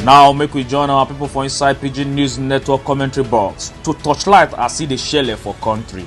now make we join our people for inside pidgin news network commentary box to torchlight as e dey shele for country.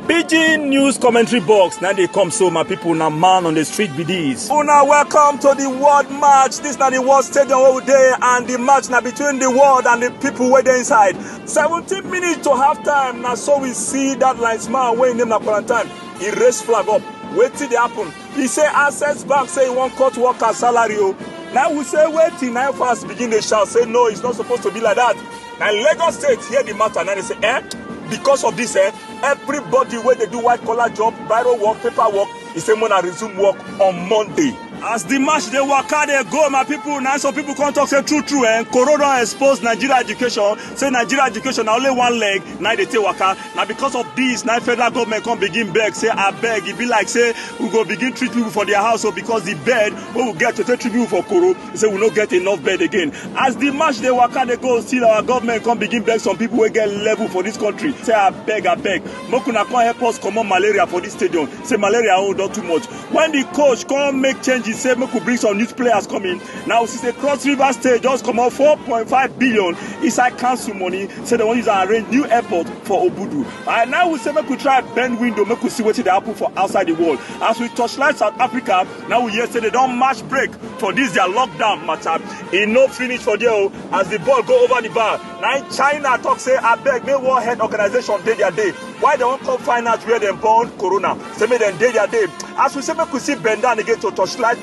Pidgin News Commentary Box. Now they come so, my people, now man on the street be this. Una welcome to the world match. This now the world stadium all day and the match now between the world and the people where they inside. 17 minutes to half time. Now so we see that linesman when name na quarantine. e raise flag up wetin dey happen e say access bank say e wan cut workers salary o na we say wetin na fans begin dey shout say no it's not supposed to be like that na lagos state hear the matter na dey say eh because of this eh everybody wey dey do white collar job biro work paper work e say make una resume work on monday as the match dey waka dey go my people na some people come talk say true true eh corona expose nigeria education say nigeria education na only one leg na e dey take waka na because of dis na federal government come begin beg say abeg e be like say we go begin treat people for their house o oh, because the bed wey we get to take treat people for koro say we no get enough bed again as the match dey waka dey go still our government come begin beg some people wey get level for this country say abeg abeg make una come help us comot malaria for this stadium say malaria own oh, don too much when the coach come make changes say make we bring some youth players come in now we see say cross river state just comot four point five billion inside council money say dem wan use am arrange new airport for obudu and now we say make we try bend window make we see wetin dey happen for outside the world as we torchlight south africa now we hear say they don match break for this their lockdown matter e no finish for there o as the ball go over the bar na im china talk say abeg make world health organization dey their day why dem wan come find out where dem born corona say make dem dey their day as we say make we see bend down again to torchlight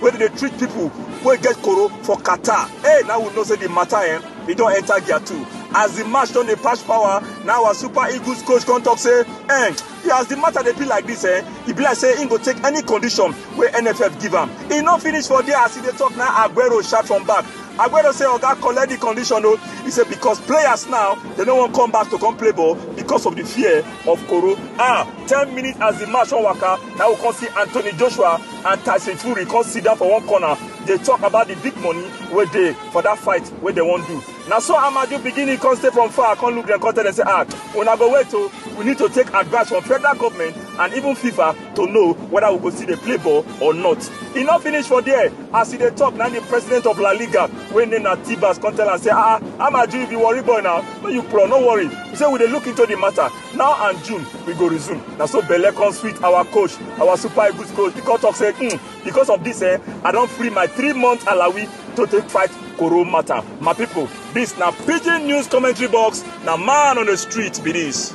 wey dey treat people wey get koro for qatar hey now we know say the matter eh e don enter gear two as the match don dey pass power now our super eagles coach come talk say eh as the matter dey be like this eh e be like say im go take any condition wey nff give am e no finish for there as e dey talk now aguero shout from back aguero say oga collect the condition o e say because players now dem no wan come back to come play ball because of the fear of koro ah ten minutes as the match don waka now we come see anthony joshua and Tyson Fury come sit down for one corner dey talk about the big money wey dey for that fight wey dem wan do na so Amaju begin he come stay from far come look dem come tell dem say ah una go wait o we need to take advice from federal government and even FIFA to know whether we go still dey play ball or not e no finish for there as e dey talk na the president of La Liga wey name na Tebas come tell am say ah Amaju you be worry boy na no you pro no worry he say we dey look into the matter now and june we go resume na so belle come sweet our coach our super eagles coach because talk say mm, because of this eh i don free my three month alawi to take fight koro matter my people this na pidgin news commentary box na man on the street be this.